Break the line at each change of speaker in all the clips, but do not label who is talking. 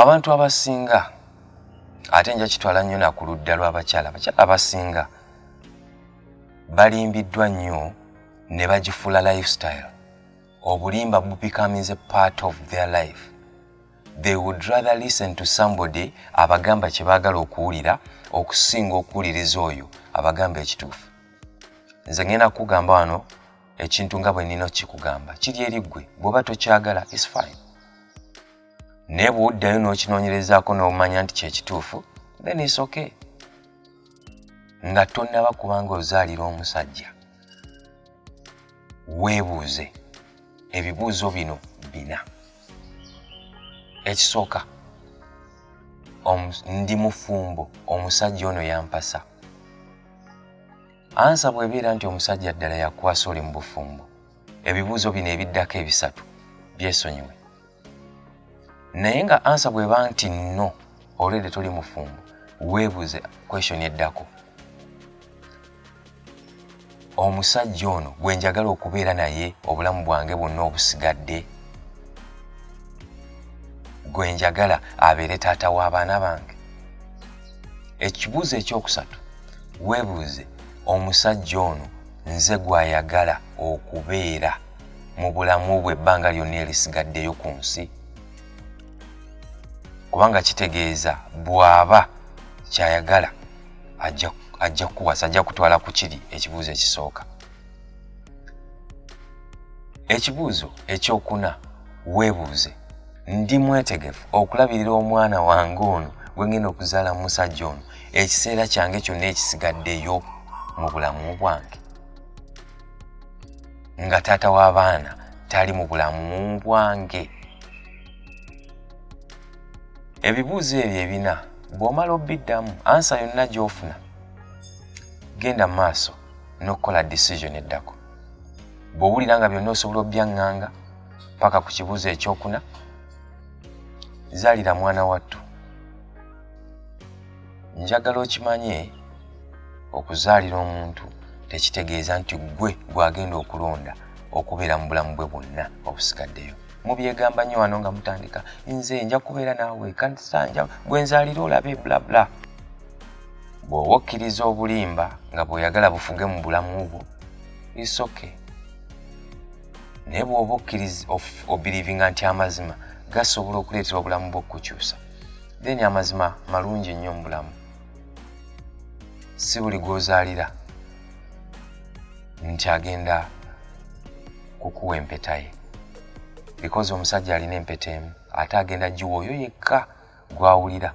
Abantu abasinga ate nja kitwala nnyo na ku ludda lw'abakyala abakyala abasinga balimbiddwa nnyo ne bagifuula lifestyle obulimba becomes a part of their life they would rather listen to somebody abagamba kye baagala okuwulira okusinga okuwuliriza oyo abagamba ekituufu nze ngenda kukugamba wano ekintu nga bwe nnina okukikugamba kiri eri ggwe bw'oba tokyagala is fine naye bw'oddayo n'okinoonyerezaako n'omanya nti kyekituufu then is okay nga tonnaba kubanga ozaalira omusajja weebuuze ebibuuzo bino bina ekisooka ndi mufumbo omusajja ono yampasa ansa bwebeera nti omusajja ddala yakwasa oli mu bufumbo ebibuuzo bino ebiddako ebisatu byesonyiwe naye nga ansa bweba nti no olwedde toli mufumbo weebuze kweshoni eddako omusajja ono gwe njagala okubeera naye obulamu bwange bwonna obusigadde gwe njagala abeere taata w'abaana bange ekibuuzo ekyokusatu weebuuze omusajja ono nze gw'ayagala okubeera mu bulamu bwe ebbanga lyonna erisigaddeyo ku nsi kubanga kitegeeza bw'aba ky'ayagala ajja kukuwasa ajja kutwala ku kiri ekibuuzo ekisooka ekibuuzo ekyokuna weebuuze ndi mwetegefu okulabirira omwana wange ono gwe ngenda okuzaala musajja ono ekiseera kyange kyonna ekisigaddeyo mu bulamu bwange nga taata w'abaana tali mu bulamu bwange ebibuuzo ebyo ebina bw'omala obiddamu ansa yonna gy'ofuna genda mu maaso n'okukola decision eddako bw'owulira nga byonna osobola obyaŋŋanga paka ku kibuuzo ekyokuna zaalira mwana wattu njagala okimanye okuzaalira omuntu tekitegeeza nti ggwe gw'agenda okulonda okubeera mu bulamu bwe bwonna obusigaddeyo mubyegamba nnyo wano nga mutandika nze nja kubeera naawe kansanja gwe nzaalira olabe blabla bw'oba okkiriza obulimba nga bw'oyagala bufuge mu bulamu bwo isoke naye bw'oba okkiriza obirivinga nti amazima gasobola okuleetera obulamu bwo okukukyusa then amazima malungi ennyo mu bulamu si buli gw'ozaalira nti agenda kukuwa empeta ye because omusajja alina empeta emu ate agenda giwa oyo yekka gwawulira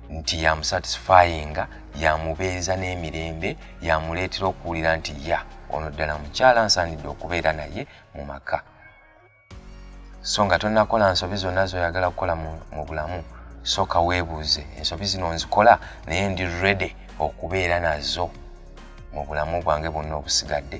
nti yamusatisfyinga yamubeeza n'emirembe yamuleetera okuwulira nti ya ono ddala mukyala nsaanidde okubeera naye mu maka so nga tonakola nsobi zonna zoyagala kukola mu bulamu sooka weebuuze ensobi zino nzikola naye ndi rede okubeera nazo mu bulamu bwange bwonna obusigadde